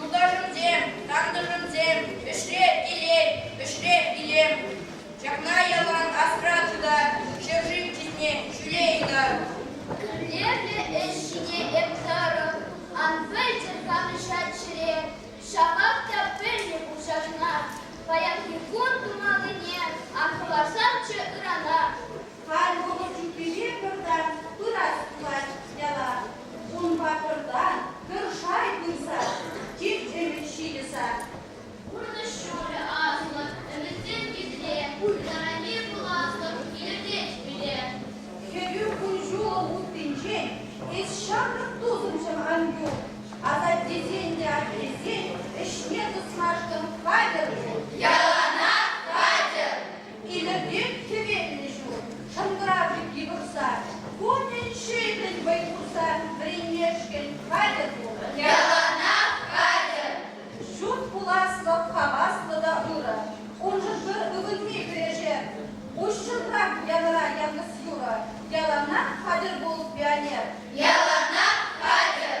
Юлташӑмсем, тантӑшӑмсем, ӗҫре килен, ӗҫре илем. Ҫакна ялан асра тытар, ҫӗршыв чысне ҫӳле ытар. Мӗнле-ши ӗҫ ҫине эп тарӑн? Ан пӗлтӗр канӑҫать ҫӗре, ҫапах та пӗлнӗ пул ҫакна. Паянхи кун тумаллине ан хӑварсамччӗ ырана. Халь вӑхӑт ҫуккине пӗртан пырать пулать яла. Ун паттӑртан пӗр шай пырса тиртемӗн ҫилӗ сар. Пурнӑҫ ҫӑмӑлӗ асӑнӑр, ӗмӗтсем килсе ыррине пуласлӑх илӗртет пире. Хӗрӳ кун-ҫулӑм уттинчен эс ҫамрӑк тусӑмҫӑм ан юл, асаттесен те аттесен ӗҫне тӑсмашкӑн хатӗр пул. Яланах хатӗр, Илӗртет хӗвеллӗ ҫул, шӑнкӑравлики пӑхса. Кунӗн ҫитрӗн вӑй хурса, вӗренмешкӗн хатӗр пул. Ялана хатӗр! Ҫут пуласлӑх хаваслӑ та ырӑ. Уншӑн пӗр ывӑнми кӗрешер. Уҫҫӑнрах янӑра яхӑс юрӑ. Яланах хатӗр пул, пионер! Яланах хатӗр!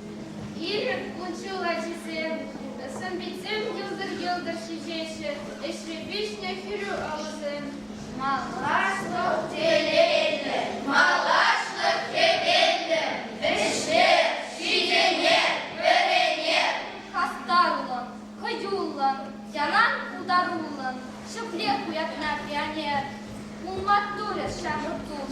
Ирӗк, кун-ҫул ачисем, сӑн-питсем йӑлтӑр-йӑлтӑр ҫиҫеҫҫӗ, ӗҫре пиҫнӗ хӗрӳ алӑсем. Малашлӑх телейлӗ, малашлӑх хӗвеллӗ, ӗҫлер, ҫитӗнер, вӗренер. Хастарлӑн, хӑюллӑн, ялан пултаруллӑн ҫӗклех уятна пионер. Пулман турӗ ҫамрӑк тус,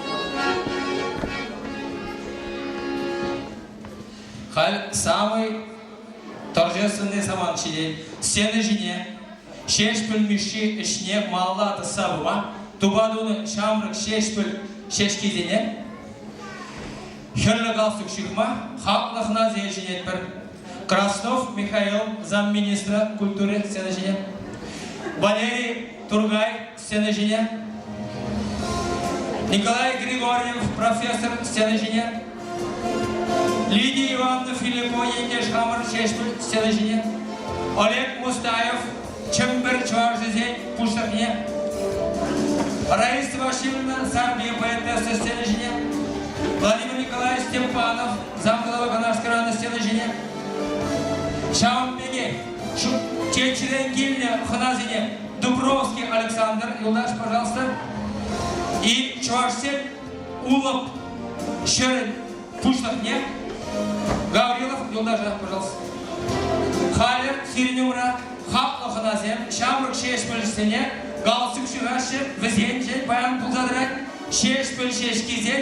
Халь самый торжественный самант ҫитет. Сцена ҫине Ҫеҫпӗл Мишши ӗҫне малла тӑсса пыма, тупа тунӑ ҫамрӑк Ҫеҫпӗл ҫеҫкисене хӗрлӗ галстук ҫыхма хаклӑ хӑнасем ҫӗнетпӗр. Краснов Михаил замминистра культури сцена ҫине Валерий Тургай сцена ҫине. Николай Григорьев, профессор сцена ҫине. Лидия Ивановна Филиппова ентеш хамӑр ҫеҫ сцена ҫине. Олег Мустаев, Чӗмпӗр чӑвашӗсен пуҫлӑхне. Раиса Васильевна Сарпи поэтесса сцена ҫине. Владимир Николаевич Степанов, замдалова Канашкӑранӑ сцена ҫине. Ҫавӑн пекех Чечрен килнӗ хӑнасене Дубровский Александр, юлташ, пожалуйста. И чӑвашсен улӑп ҫӗрӗн пуҫлӑхне Гаврилов юлташа, пожалуйста. Халӗ сирӗн умра хаклӑ хӑнасем ҫамрӑк ҫеҫпӗлҫсене галстук ҫыхаҫҫӗ, вӗсенчен паян пулса тӑрать ҫеҫпӗл ҫеҫкисен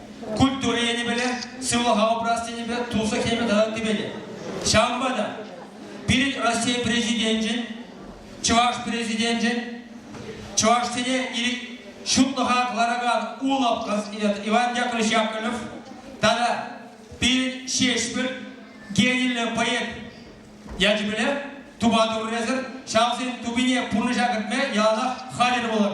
культура енӗпеле, сывлӑха упрас енӗпе туслӑх енӗпе тата ыттипе те. Ҫавӑнпа та пирӗн Раҫҫей Президенчӗн, Чӑваш Президенчӗн чӑвашсене ҫутлӑха кӑларакан улӑпкӑс Иван Яковлевич Яковлев тата пирӗн Ҫеҫпӗл гениллӗ поэт ячӗпеле тупа турӗсӗр ҫавсен тупине пурнӑҫа кӗртме яланах хатӗр пулӑр.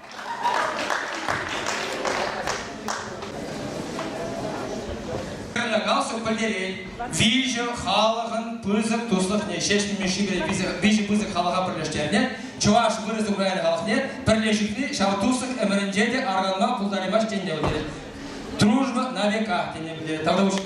калсӑк пӗлтерет, виҫӗ халӑхӑн пысӑк туслӑхне ҫеҫ ниме шикӗре виҫӗ пысӑк халӑха пӗрлештернӗ, чӑваш вырӑс украин халӑхне пӗрлешӳкне ҫав туслӑх ӗмӗрӗнче те арканма пултараймасть тенӗ пӗлтерет. Дружба на века тенӗ пӗлтерет. Тавтапуҫ.